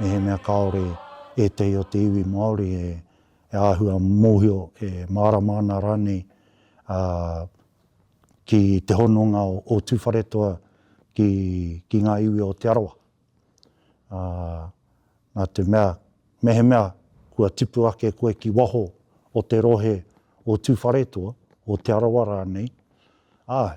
Mehemea kāore ētehi o te iwi Māori e āhua mōhio, e mārama ana rānei ki te hononga o Tūwharetoa ki ngā iwi o Te Arawa, nā te mea, mehemea kua tipu ake koe ki waho o te rohe o Tūwharetoa, o Te Arawa rānei, āe,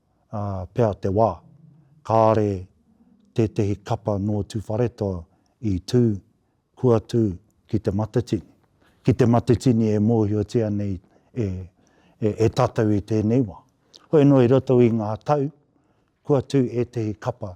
pea te wā. Kāre tētehi kapa nō Tūwharetoa i tū, kua tū ki Te Matatini. Ki Te Matatini e mōhiotia nei e tātou i tēnei wā. Hoi anō i roto i ngā tau, kua tū ētehi kapa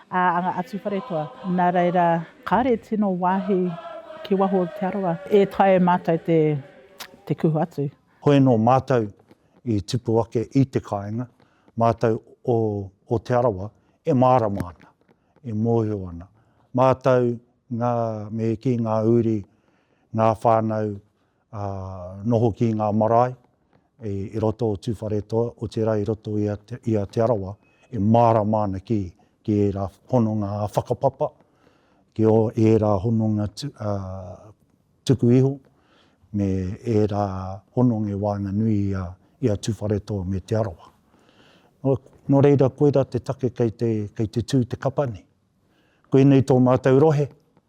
a nga atuwharetoa. Na reira, kare tino wahi ki waho o te arawa. E taea e matou te te kuhu atu. Hoi no matou i tipu ake i te kainga, matou o o te arawa e marama ana, e mohio ana. Matou nga me ki nga uri, nga whanau, a noho ki nga marae i roto o Tuwharetoa, otira i roto i a Te Arawa, e marama ana ki era hononga whakapapa, ki era hononga tuku iho, me era hononga e waenganui i a Tuwharetoa me Te Arawa. No reira koira te take kei te tu te kapa nei. Koinei to matou rohe,